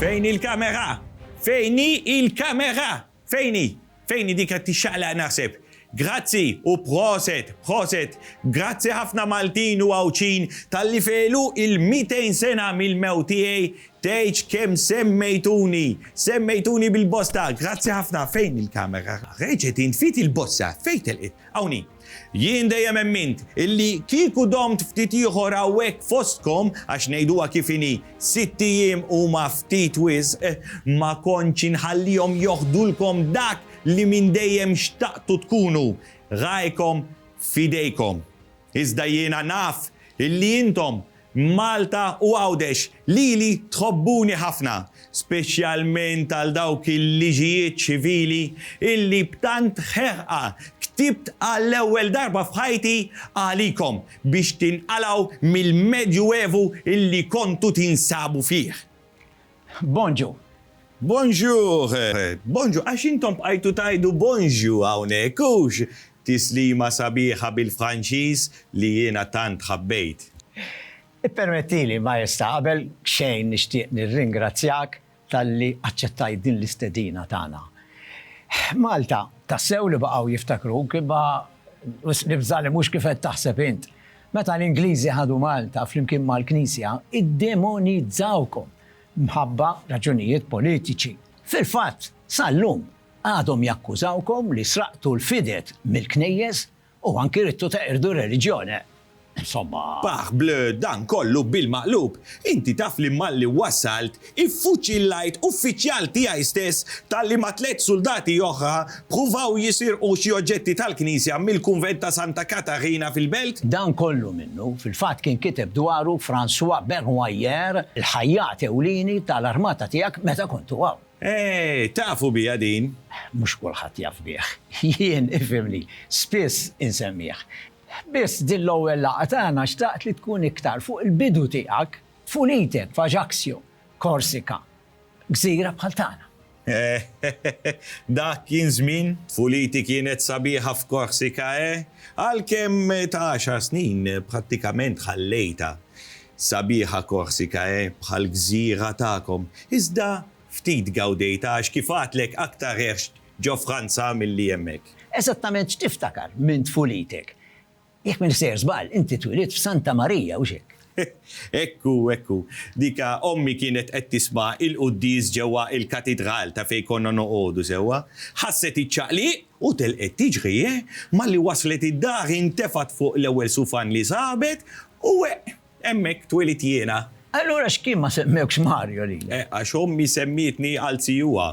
Fejn hi l-kamera? Fejn hi il-kamera? Fejn hi? Fejn hi dik qed tixxaqlaq naħseb. Grazzi u proset, proset. Grazzi ħafna Maltin u Għawdxin talli fegħlu il-200 sena mill-mewt tiegħi Tgħidx kemm semmejtuni! Semmejtuni bil-bosta! Grazzi ħafna! Fejn il-kamera? Reġgħet int ftit il-bossa! Fejn telqet? Hawn hi! Jien dejjem emmint illi kieku domt ftit ieħor hawnhekk fostkom, għax ngħiduha kif inhi, sitt ijiem huma ftit wisq, ma kontx inħallihom joħdulkom dak li minn dejjem xtaqtu tkunu, ragħajkom f'idejkom. Iżda jiena naf illi intom Malta u Għawdex lili tħobbuni ħafna, speċjalment għal dawk il-liġijiet ċivili illi b'tant ħerqa ktibt għall-ewwel darba f'ħajti għalikom biex tinqalgħu mill-Medjuevu illi kontu tinsabu fih. Bonjour. Bonjour. Bonjour. Għax intom bqajtu tgħidu bonjour hawnhekk, hux? Tislima sabiħa bil-Franċiż li jiena tant ħabbejt. Ippermettili, Maestà, qabel xejn nixtieq nirringrazzjak talli aċċettajt din l-istedina tagħna. Malta, tassew li baqgħu jiftakruk, imma wisq nibża' li mhux kif qed taħseb int. Meta l-Ingliżi ħadu Malta flimkien mal-Knisja, iddemonizzawkom mħabba raġunijiet politiċi. Fil-fatt, sal-lum, għadhom jakkużawkom li sraqtu l-fided mill-knejjes u anki ridtu teqirdu r-reliġjone. Insomma. Pah, Bleu, dan kollu bil-maqlub! Inti taf li malli wassalt, Iffuċillajt uffiċjal tiegħi stess talli ma' tliet suldati oħra ppruvaw jisirqu xi oġġetti tal-knisja mill-kunvent ta' Santa Katarina fil-Belt. Dan kollu minnu fil-fatt kien kiteb dwaru François Bernoyer, il-ħajjat ewlieni tal-armata tiegħek meta kontu hawn. Eeh, tafu biha din? Mhux kulħadd jaf bih. Jien, ifhimni, spiss insemmih. Biss din l-ewwel laqgħa tagħna xtaqt li tkun iktar fuq il-bidu tiegħek Tfulite f'Ajaccio, Korsika, gżira bħal tagħna. Eħ, dak kien żmien! Tfuliti kienet sabiħa f'Korsika, eh? Għalkemm ta' għaxar snin prattikament ħallejtha. Sabiħa Korsika, eh, bħall-gżira tagħkom. Iżda ftit gawdejtha għax kif għadtlek aktar għext ġo Franza milli hemmhekk. Eżattament x'tiftakar minn tfulitek? Jekk m'in sejjer żball, inti twilidt f'Santa Marija, hux hekk? Hekk hu, hekk hu. Dik ommi kienet qed tisma' il-quddies ġewwa il-katidral ta' fejn konna noqogħdu sewwa. Ħasset iċ-ċaqliq u telqet tiġri, eh! Malli waslet id-dar intefgħet fuq l-ewwel sufan li sabet u weq. Hemmhekk twielidt jiena. Allura x'kien ma semmewkx Mario lilek? Għax ommi semmietni għal zijuha.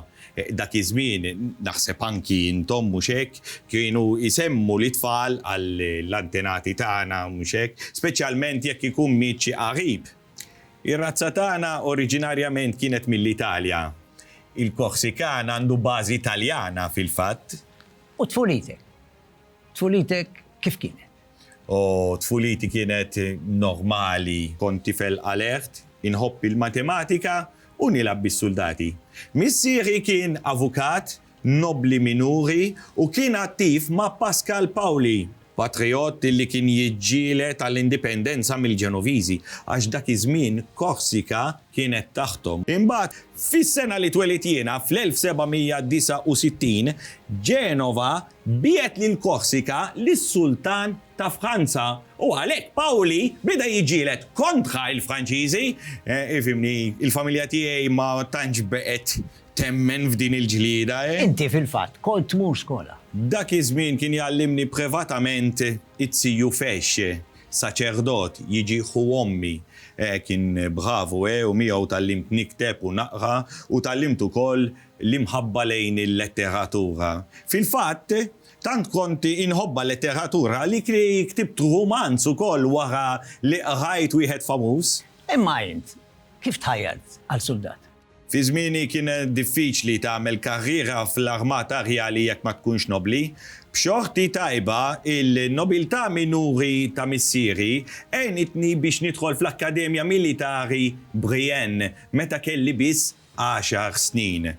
Dak iż-żmien, naħseb anki intom, mhux hekk, kienu jsemmu lit-tfal għall-antenati tagħna, mhux hekk, speċjalment jekk ikun miet xi qarib? Ir-razza tagħna oriġinarjament kienet mill-Italja. Il-Korsikan għandu bażi Taljana, fil-fatt. U tfulitek? Tfulitek kif kienet? O, tfuliti kienet normali. Kont tifel alert, inħobb il-matematika u nilgħab bis-suldati. Missierhi kien avukat, nobbli minuri u kien attiv ma' Pascal Paoli, patrijott li kien jiġġieled għall-indipendenza mill-Ġenoviżi, għax dak iż-żmien Korsika kienet taħthom. Imbagħad, fis-sena li twelidt jiena, fl-1769, Genova Biegħed lil Korsika lis-Sultan ta' Franza u għalhekk Pauli beda jiġġieled kontra l-Franċiżi. Ifhimni, il-familja tiegħi ma tantx baqgħet temmen f'din il-ġlieda, eh. Inti fil-fatt kont tmur skola? Dak iż-żmien kien jgħallimni privatament it-Siju Fex, saċerdot, jiġi ħu ommi. Kien bravu, eh, u miegħu tgħallimt nikteb u naqra u tgħallimt ukoll l-imħabba lejn il-letteratura. Fil-fatt, tant kont inħobbha l-letteratura għalik li ktibt rumanz ukoll wara li qrajt wieħed famuż. Imma int, kif tħajjart għal suldat? Fi żmieni kien diffiċli tagħmel karriera fl-Armata Rjali jekk ma tkunx nobbli. B'xorti tajba, il-nobiltà minuri ta' missieri għenitni biex nidħol fl-Akkademja Militari Brienne meta kelli biss għaxar snin.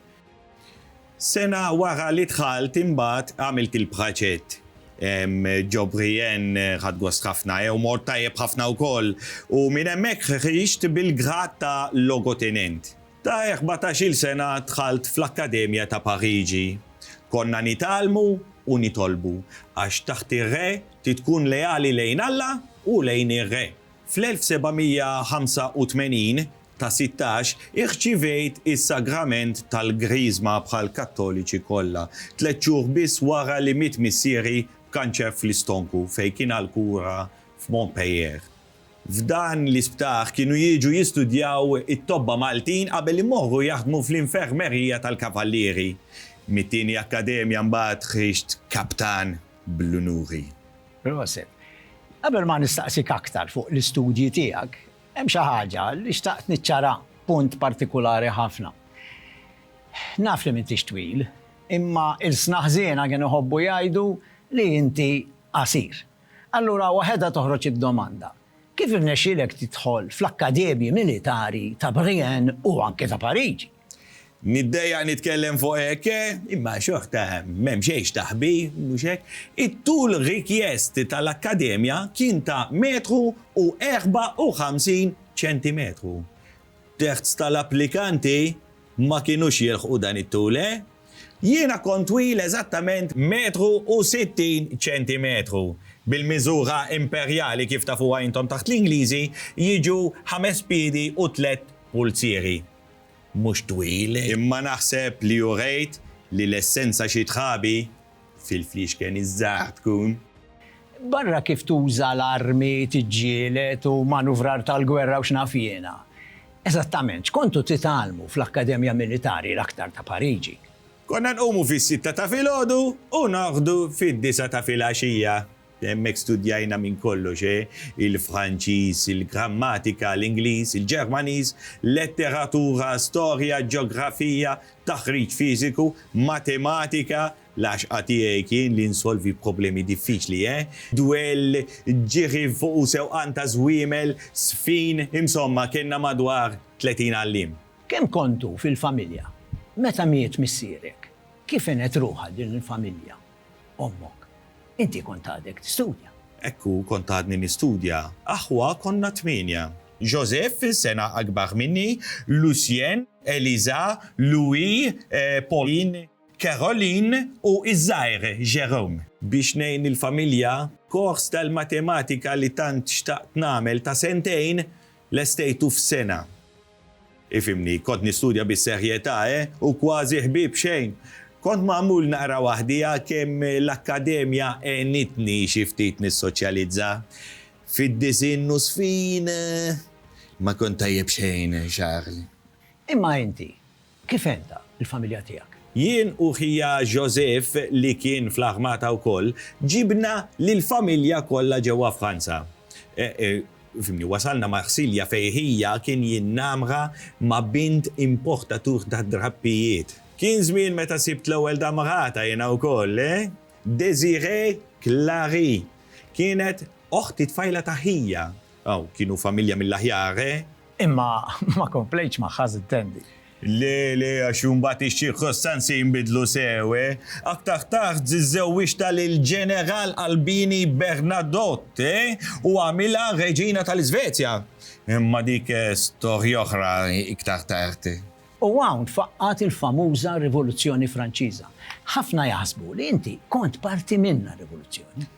Sena wara li dħalt imbagħad għamilt il-praċett. Ġo Brienne ħadt gost ħafna jew mort tajjeb ħafna wkoll u minn hemmhekk ħriġt bil-grad ta' logotenent. Ta' erbatax-il sena dħalt fl-Akkademja ta' Pariġi. Konna nitgħallmu u nitolbu għax taħt ir-re trid tkun leali lejn Alla u lejn ir-re. Fl-1785 ta' sittax, irċivejt is-sagrament tal-Griżma bħal Kattoliċi kollha, tliet xhur biss wara li miet missieri b'kanċer fl-istonku fejn kien għal kura f'Montpellier. F'dan l-isptar kienu jiġu jistudjaw it-tobba Maltin qabel imorru jaħdmu fl-infermerija tal-kavallieri. Mit-tieni akkademja mbagħad ħriġt kaptan bl-unuri. Proset. Qabel ma nistaqsik aktar fuq l-istudji tiegħek, Hemm xi ħaġa li xtaqt niċċara, punt partikulari ħafna. Naf li m'intix twil, imma ilsna ħżiena kienu jħobbu jgħidu li inti qasir. Allura waħedha toħroġ id-domanda, kif irnexxielek tidħol fl-akkademji militari ta' Brienne u anke ta' Pariġi? Niddejjaq nitkellem fuq hekk, imma xorta m'hemm xejn x'taħbi, mhux hekk? It-tul rikjest tal-Akkademja kien ta' metru u erbgħa u ħamsin ċentimetru. Terz tal-applikanti ma kinux jilħqu dan it-tul, eh? Jiena kont twil eżattament metru u sittin ċentimetru, bil-miżura imperjali kif tafuha intom taħt l-Ingliżi jiġu ħames piedi u tlett pulzieri. mhux twil. Imma naħseb li urejt li l-essenza xi tħabi fil-fliexken iż-żgħar tkun. Barra kif tuża l-armi, tiġġieled u manuvrar tal-gwerra u x'naf jiena. Eżattament, x'kontu titgħallmu fl-Akkademja Militari l-aktar ta' Pariġi? Konna nqumu fis-sitta ta' filgħodu u norqdu fid-disgħa ta' filgħaxija. Hemmhekk studjajna minn kollox, eh, il-Franċiż, il-grammatika, l-Ingliż, il-Ġermaniż, letteratura, storja, ġeografija, taħriġ fiżiku, matematika, l-għaxqa tiegħi kien li nsolvi problemi diffiċli, eh, dwell, ġiri fuq u sewqan ta' żwiemel, żfin, insomma kellna madwar tletin għalliem. Kemm kontu fil-familja? Meta miet missierek, kif għenet ruħha din il-familja? ommok. Inti kont għadek tistudja. Hekk hu, kont għadni nistudja. Aħwa konna tmienja. Joseph, sena akbar minni, Lucien, Eliza, Louis, Pauline, Caroline u ż-żgħir Jérôme. Biex ngħin il-familja, kors tal-matematika li tant xtaqt nagħmel ta' sentejn, lestejtu f'sena. Ifhimni, kont nistudja bis-serjetà, eh, u kważi ħbieb xejn. Kont magħmul naqra waħdija kemm l-akkademja għenitni xi ftit nissoċjalizza. Fid-disinn nusfin, ma kont tajjeb xejn, Charles. Imma inti, Kif għenta l-familja tiegħek? Jien u ħija Joseph, li kien fl-armata wkoll, ġibna lill-familja kollha ġewwa Franza. Fimni, wasalna Marsilja fejn ħija kien jinnamra ma' bint importatur ta' drappijiet. Kien żmien meta sibt l-ewwel damrata jiena wkoll, eh! Désirée Clary kienet oħt it-tfajla ta' ħija. Aw, kienu familja mill-aħjar, eh? Imma ma komplejtx magħha żitt tendi. Le, le, għax imbagħad ix-ċirkostanzi jinbidlu sew, eh? Aktar tard żżewwiġtha lill-Ġeneral Albini Bernadotte, eh? U għamilha Reġina tal-Iżvezja. Imma dik storja oħra iktar tard. U hawn tfaqqgħet il-famuża Rivoluzzjoni Franċiża. Ħafna jaħsbu li inti kont parti minnha r-rivoluzzjoni.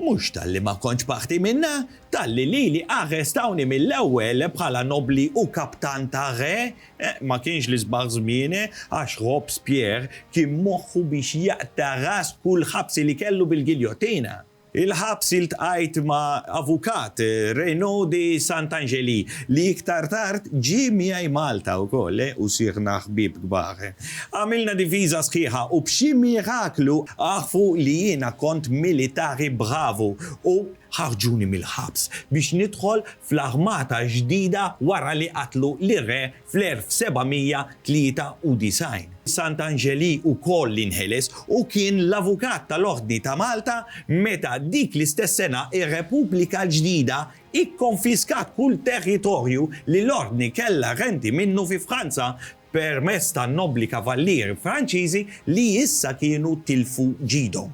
Mhux talli ma kontx parti minnha, talli lili arrestawni mill-ewwel bħala nobbli u kaptan ta' re. Ma kienx l-isbaħ żmien, għax Robespierre kien moħħu biex jaqta' ras kull ħabsi li kellu bil-giljottina. Il-ħabs iltqajt ma' avukat, Raynaud de Saint-Angelis, li iktar tard ġie miegħi Malta wkoll u sirna ħbieb kbar. Għamilna difiża sħiħa u b'xi miraklu għarfu li jiena kont militari bravu u ħarġuni mill-ħabs biex nidħol fl-armata ġdida wara li qatlu lir-re fl-1793. Sant'Anġeli wkoll inħeles u kien l-avukat tal-Ordni ta' Malta meta dik l-istess sena r-Repubblika l-Ġdida ikkonfiskat kull territorju li l-Ordni kellha renti minnu fi Franza permezz tan-nobbli kavallieri Franċiżi li issa kienu tilfu ġidhom.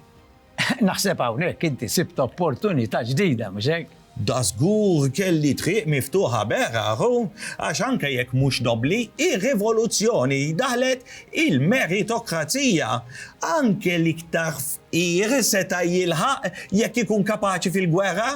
Naħseb hawnhekk inti sibt opportunità ġdida, mhux hekk? Dażgur kelli triq miftuħa Bernard, għax anke jekk mhux nobbli, ir-rivoluzzjoni daħlet il-meritokrazija. Anke l-iktar fqir seta' jilħaq jekk ikun kapaċi fil-gwerra.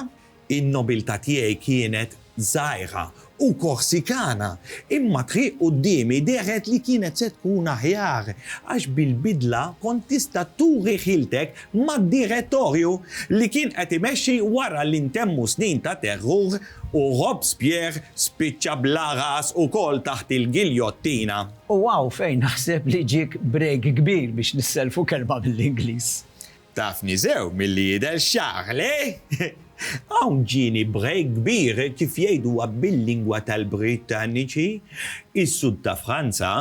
In-nobiltà tiegħi kienet żgħira u Korsikana, imma t-triq quddiemi dehret li kienet se tkun aħjar, għax bil-bidla kont tista' turi ħiltek mad-Direttorju li kien qed imexxi wara li ntemmu snin ta' terrur u Robespierre spiċċa bla ras ukoll taħt il-giljottina. U hawn fejn naħseb li ġiek break kbir biex nissellfu kelma mill-Ingliż. Tafni sew milli jidher xagħar, le? Hawn ġieni break kbir, kif jgħiduha bil-lingwa tal-Brittaniċi, is-Sud ta' Franza,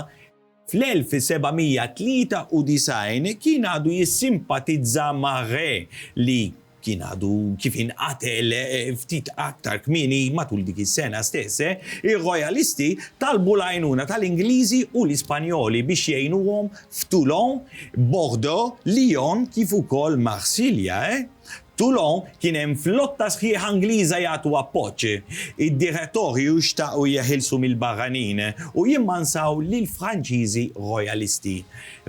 fl-1793, kien għadu jissimpatizza ma' re li kien għadu kif inqatel ftit aktar kmieni matul dik is-sena stess, ir-Rojalisti talbu l-għajnuna tal-Ingliżi u l-Ispanjoli biex jgħinuhom f'Toulon, Bordeaux, Lyon kif ukoll Marsilja. Toulon kien hemm flotta sħiħa Ingliża jagħtu appoġġ. Id-Direttorju xtaqu jeħilsu mill-barranin u jimmansaw lill-Franċiżi Rojalisti.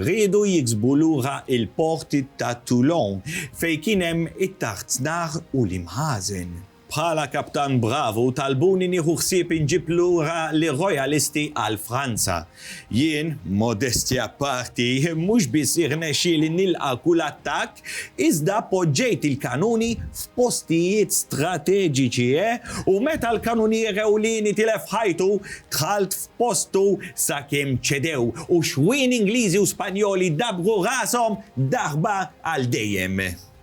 Riedu jiksbu lura l-port ta' Toulon fejn kien hemm it-tartnar u l-imħażen. Bħala kaptan bravu talbuni nieħu ħsieb inġib lura lir-Rojalisti għal Franza. Jien, modestja apparti, mhux biss irnexxieli nilqa' kull attakk, iżda poġġejt il-kanuni f'postijiet strateġiċi, eh, u meta l-kanunier ewlieni tilef ħajtu, dħalt f'postu sakemm ċedew u xwien Ingliżi u Spanjoli dabbru rashom daħba għal dejjem.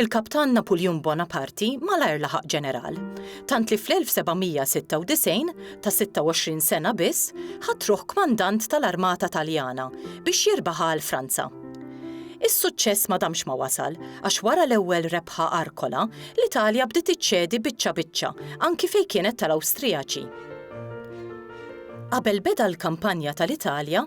Il-Kaptan Napuljun Bonaparti malajr laħaq ġeneral, tant li fl-1796, ta' 26 sena biss, ħadd ruħ kmandant tal-armata Taljana biex jirbaħha għal Franza. Is-suċċess ma damx ma wasal, għax wara l-ewwel rebħa Arkola, l-Italja bdiet iċċedi biċċa biċċa, anki fejn kienet tal-Awstrijaċi. Qabel beda l-kampanja tal-Italja,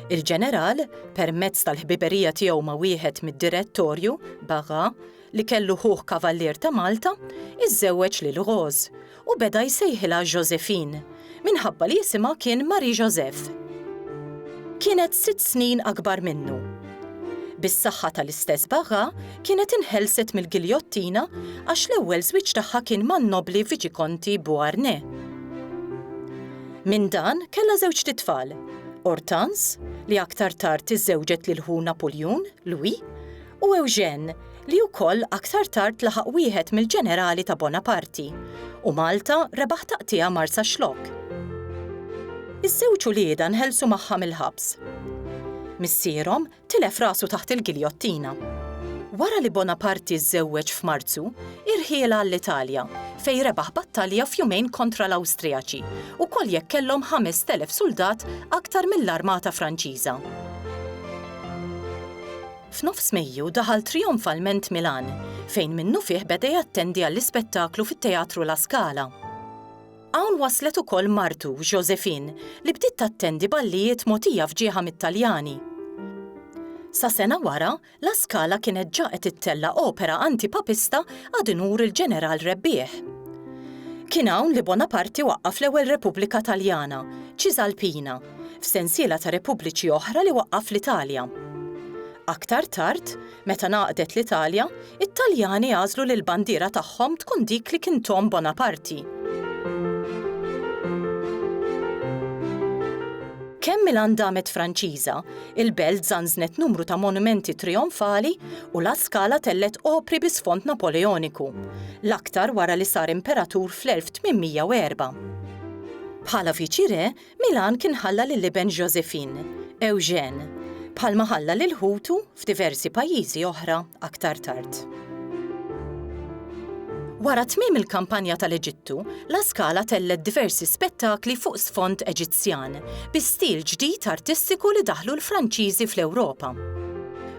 il-ġeneral, permezz tal-ħbiberija tiegħu ma' wieħed mid-Direttorju, Bagha, li kellu ħuh Kavallier ta' Malta, iżżewweġ lil Rose u beda jsejħilha Josephine, minħabba li isimha kien Marie-Joseph. Kienet sitt snin akbar minnu. Bis-saħħa tal-istess Bagha, kienet inħelset mill-giljottina għax l-ewwel żwieġ tagħha kien man-nobbli Viċikonti Beauharnais. Minn dan kellha żewġt itfal, Hortense, li aktar tard iżżewġet lil ħu Napuljun, Louis, u Eugène, li wkoll aktar tard laħaq wieħed mill-ġenerali ta' Bonaparti, u Malta rebaħ taqtigħa Marsaxlokk. Iż-żewġ uliedha nħelsu magħha mill-ħabs. Missierhom tilef rasu taħt il-giljottina. Wara li Bonaparti żżewweġ f'Marzu, irħiel għall-Italja, fejn rebaħ battalja f'jumejn kontra l-Awstrijaċi, ukoll jekk kellhom 5,000 suldat aktar mill-armata Franċiża. F'nofs Mejju daħal trijonfalment Milan, fejn minnufih beda jattendi għall-ispettaklu fit-Teatru La Scala. Hawn waslet ukoll martu, Josephine, li bdiet tattendi ballijiet mogħtija f'ġieħha mit-Taljani. Sa sena wara, La Scala kienet ġa qed ittella' opera anti-Papista ad unur il-Ġeneral rebbieħ. Kien hawn li Bonaparte waqqaf l-ewwel Repubblika Taljana, Cisalpina, f'sensiela ta' repubbliċi oħra li waqqaf fl-Italja. Aktar tard, Meta ngħaqdet l-Italja, it-Taljani għażlu li l-bandiera tagħhom tkun dik li kien Tom Bonaparti. Kemm Milan damet Franċiża, il-belt żanżnet numru ta' monumenti trijonfali u La Scala tellgħet opri bi sfond Napoleoniku, l-aktar wara li sar imperatur fl-1804. Bħala viċi-re, Milan kien ħalla lill-iben Joséphine, Eugène, bħalma ħalla lil ħutu f'diversi pajjiżi oħra aktar tard. Wara tmiem il-kampanja tal-Eġittu, La Scala tellgħet diversi spettakli fuq sfond Eġizzjan, bi stil ġdid artistiku li daħħlu l-Franċiżi fl-Ewropa.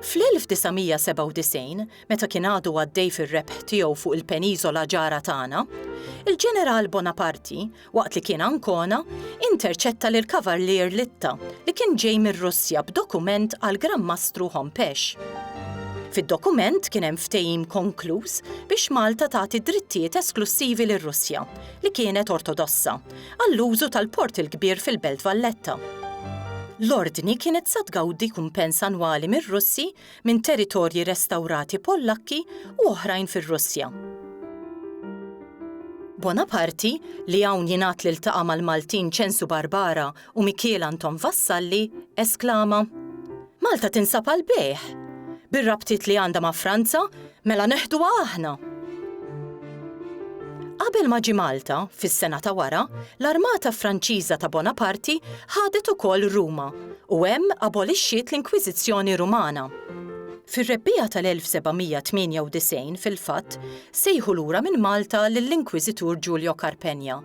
Fl-1997, meta kien għadu għaddej fir-rebħ tiegħu fuq il-peniżola ġara tagħna, il-Ġeneral Bonaparti Waqt li kien Ancona, interċetta lil Kavarlier Litta li kien ġej mir-Russja b'dokument għal Gran Mastru Hompesch. Fid-dokument kien hemm ftehim konkluż biex Malta tagħti drittijiet esklussivi lir-Russja, li kienet Ortodossa, għall-użu tal-Port il-Kbir fil-Belt Valletta. L-Ordni kienet sa tgawdi kumpens annwali mir-Russi minn territorji restawrati Pollakki u oħrajn fir-Russja. Bonaparti, li hawn jingħad li ltaqa' mal-Maltin Ċensu Barbara u Mikiel Anton Vassalli, esklama, Malta tinsab għall-bejgħ! Bir-rabtiet li għandha ma' Franza, Mela neħduha aħna! Qabel ma ġie Malta, fis-sena ta' wara, l-armata Franċiża ta' Bonaparti ħadet ukoll Ruma u hemm abolixxiet l-Inkwiżizzjoni Rumana. Fir-Rebbiegħa tal-1798, fil-fatt, sejħu lura minn Malta lill-Inkwiżitur Giulio Carpegna,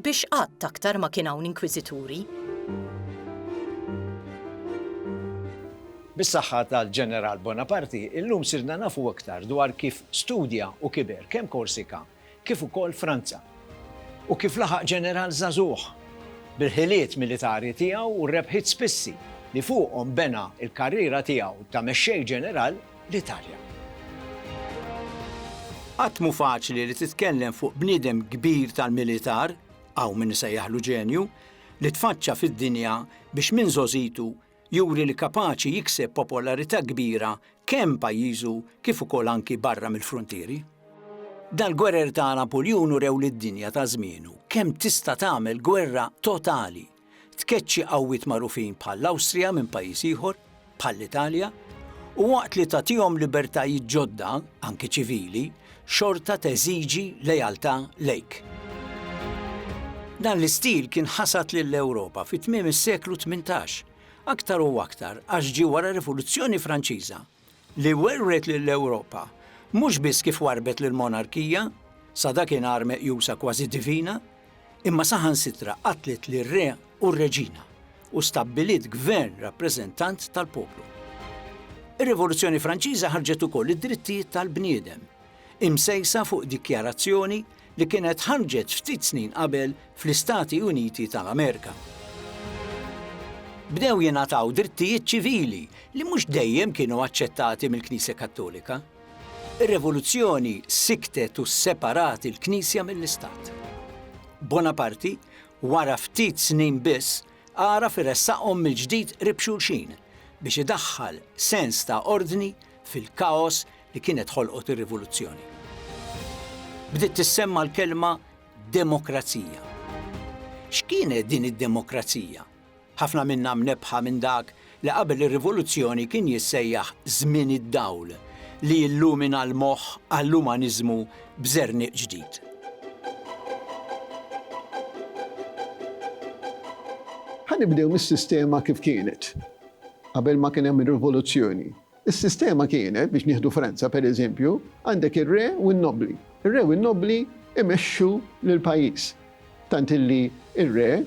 biex qatt aktar ma kien hawn Inkwiżituri. Bis-saħħa tal-Ġeneral Bonaparte, illum sirna nafu aktar dwar kif studja u kiber kemm Korsika kif ukoll Franza, u kif laħaq ġeneral żagħżugħ bil-ħiliet militari tiegħu u r-rebħiet spissi li fuqhom bena l-karriera tiegħu ta' mexxej ġeneral l-Italja. Qatt mhu faċli li titkellem fuq bniedem kbir tal-militar, hawn min isejjaħlu ġenju, li tfaċċa fid-dinja biex minn żgħożitu juri li kapaċi jikseb popolarità kbira kemm pajjiżu kif ukoll anki barra mill-fruntieri. Dal-gwerer ta' Napuljun urew lid-dinja ta' żmienu kemm tista' tagħmel gwerra totali, tkeċċi qawwiet magħrufin bħall-Awstrija minn pajjiż ieħor, bħall-Italja, u waqt li tagħtihom libertajiet ġodda, anki ċivili, xorta teżiġi lealtà lejk. Dan l-istil kien ħasad lill-Ewropa fi tmiem is-seklu tmintax, aktar u aktar għax ġie wara r-Rivoluzzjoni Franċiża, li werwret lill-Ewropa mhux biss kif warrbet lill-monarkija, sa dakinhar meqjusa kważi divina, imma saħansitra qatlet lir-re u r-reġina u stabbiliet gvern rappreżentant tal-poplu. Ir-Rivoluzzjoni Franċiża ħarġet ukoll id-drittijiet tal-bniedem, imsejsa fuq dikjarazzjoni li kienet ħarġet ftit snin qabel fl-Istati Uniti tal-Amerika. Bdew jingħataw drittijiet ċivili li mhux dejjem kienu aċċettati mill-Knisja Kattolika. Ir-Revoluzzjoni sikktet u sseparat il-Knisja mill-Istat. Bonaparti, wara ftit snin biss, għaraf iressaqhom mill-ġdid qrib xulxin biex idaħħal sens ta' ordni fil-kaos li kienet ħolqot ir-Rivoluzzjoni. Bdiet tissemma l-kelma demokrazija. X'kienet din id-demokrazija? Ħafna minna mnebbħa minn dak li qabel ir-Rivoluzzjoni kien jissejjaħ Żmien id-Dawl li jillumina l-moħħ għall-umaniżmu b'żerniq ġdid. Ħa nibdew mis-sistema kif kienet qabel ma kien hemm ir-Rivoluzzjoni. Is-sistema kienet, biex nieħdu Franza per eżempju, għandek ir-re u n-nobbli. Ir-re u n-nobbli imexxu lill-pajjiż. Tant illi r-re,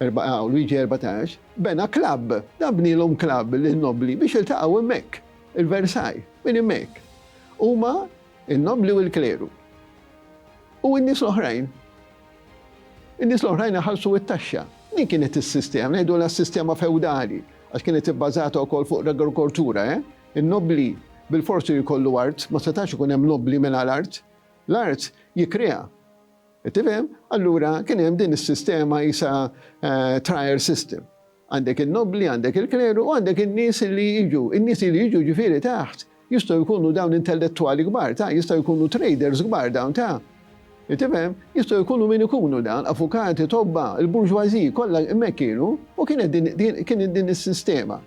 erba' A u Luigi erbatax, bena klabb. Dan bnielhom klabb lin-nobbli biex jiltaqgħu hemmhekk, il-Versailles, minn hemmhekk. Huma, in-nobbli u l-kleru. U n-nies l-oħrajn. In-nies l-oħrajn iħallsu t-taxxa. Din kienet is-sistema, ngħidulha s-sistema fewdali, għax kienet ibbażata wkoll fuq l-agrikoltura, eh? In-nobbli bilfors irid jkollu art, ma setax ikun hemm nobbli mingħajr art. L-art jikkrea. Qed tifhem? Allura kien hemm din is-sistema qisha trial system. Għandek in-nobbli, għandek il-kleru u għandek in-nies li jiġu. In-nies li jiġu ġifieri taħt jistgħu jkunu dawn intellettwali kbar ta', jistgħu jkunu traders kbar dawn ta'. Tifhem? Jistgħu jkunu min ikunu dawn, avukati, tobba, il-bourgeoisie kollha hemmhekk kienu u kienet din kienet din is-sistema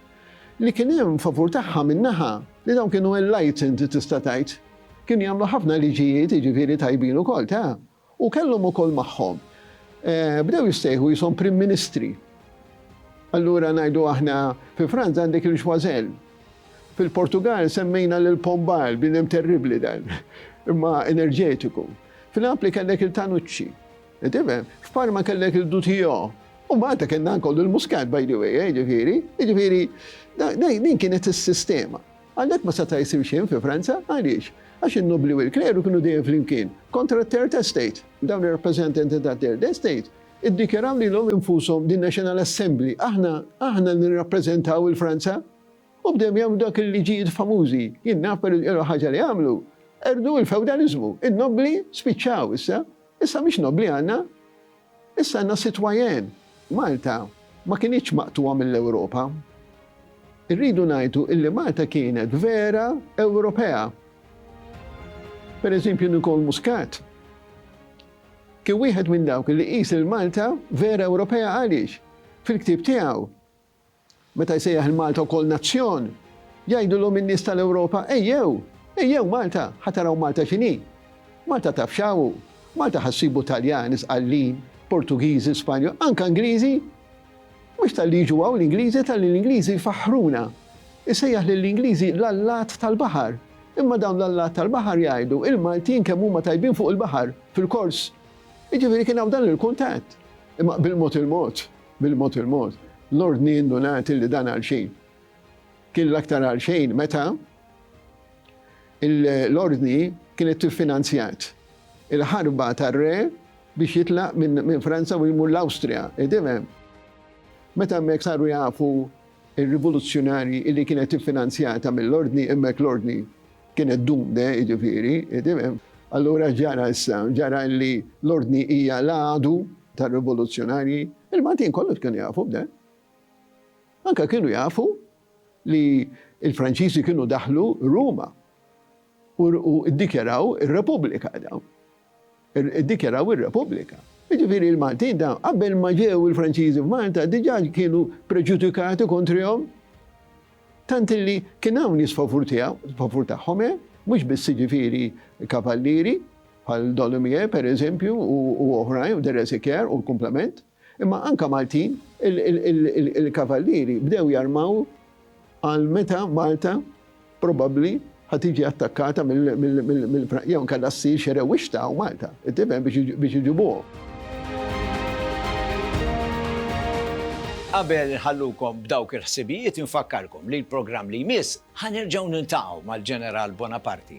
li kien hemm favur tagħha minn naħa li dawn kienu enlightened tista' tgħid. Kienu jagħmlu ħafna liġijiet jiġifieri tajbin ukoll ta'. U kellhom ukoll magħhom. Bdew jissejħu qishom Prim Ministri. Allura ngħidu aħna fi Franza għandek il-Choiseul. Fil-Portugall semmejna lil Pombal, bniedem terribbli dan, imma enerġetiku. F'Napli kellek il-Tanucci. Qed tifhem? F'Parma kellek il-Dutillot. U Malta kellna anke lil Muscat, by the way, jiġifieri. Jiġifieri, din kienet is-sistema. Għalhekk ma seta' jsir xejn fi Franza. Għaliex? Għax in-nobbli u l-kleru kienu dejjem flimkien, kontra t-Third Estate. Dawn ir-rappreżentanti tat-Third Estate iddikjaraw lilhom infushom The National Assembly, aħna, aħna li nirrappreżentaw 'il Franza! U bdew jagħmlu dawk il-liġijiet famużi. Jien naf per l-ewwel ħaġa li għamlu, qerdu l-fewdaliżmu. In-nobbli spiċċaw issa. Issa mhix nobbli għandna. Issa għandna sitwajen, Malta ma kinitx maqtugħa mill-Ewropa. Irridu ngħidu illi Malta kienet vera Ewropea. Per eżempju Nicole Muscat kien wieħed minn dawk li qis lil Malta vera Ewropea għaliex fil-ktieb tiegħu Meta jsejjaħ lil Malta wkoll nazzjon, jgħidulhom in-nies tal-Ewropa, Ejjew! Ejjew Malta! Ħa taraw Malta x'inhi! Malta taf x'hawn! Malta ħa ssibu Taljani, Sqallin, Portugiżi, Spanjoli, anke Ingliżi! Mhux talli jiġu hawn l-Ingliżi, talli l-Ingliżi jfaħħruna. Isejjaħ lill-Ingliżi l-allat tal-baħar. Imma dawn l-allat tal-baħar jgħidu, Il-Maltin kemm huma tajbin fuq il-baħar, fil-kors! Jiġifieri kien hawn dan il-kuntatt. Imma bil-mod il-mod. Bil-mod il-mod, l-ordni innu nagħti li dan għalxejn. Kien l-aktar għalxejn meta l-ordni kienet tiffinanzjat il-ħarba tar-re biex jitlaq minn Franza u jmur l-Awstrija, idimem. Meta hemmhekk saru jafu il-rivoluzzjonari li kienet tiffinanzjata mill-ordni, hemmhekk l-ordni kienet dumde, jiġifieri, idimem. Allura ġara issa, ġara li l-ordni hija l-għadu tar-rivoluzzjonarji, il-Maltin kollox kienu jafu b'dan. Anke kienu jafu li l-Franċiżi kienu daħlu Ruma u ddikjaraw ir-Repubblika dawn. Iddikjaraw ir-Repubblika. Jiġifieri l-Maltin dawn qabel ma ġew il-Franċiżi f'Malta diġà kienu preġudikati kontrihom tant li kien hawn jisfavur tiegħu, favur tagħhom, eh? mhux biss jiġifieri kavallieri, bħal Don Lumiere, per eżempju, u oħrajn, The Resequier u l-Kumplament, imma anka Maltin, il-Kavallieri bdew jarmaw għal meta Malta probabbli ħad tiġi attakkata mill jew nkella ssir xi rewwixta u Malta, tifhem biex iġibuhom. Qabel inħallukom b'dawk il-ħsibijiet infakkarkom li l-programm li jmiss ħa nerġgħu niltaqgħu mal-Ġeneral Bonaparti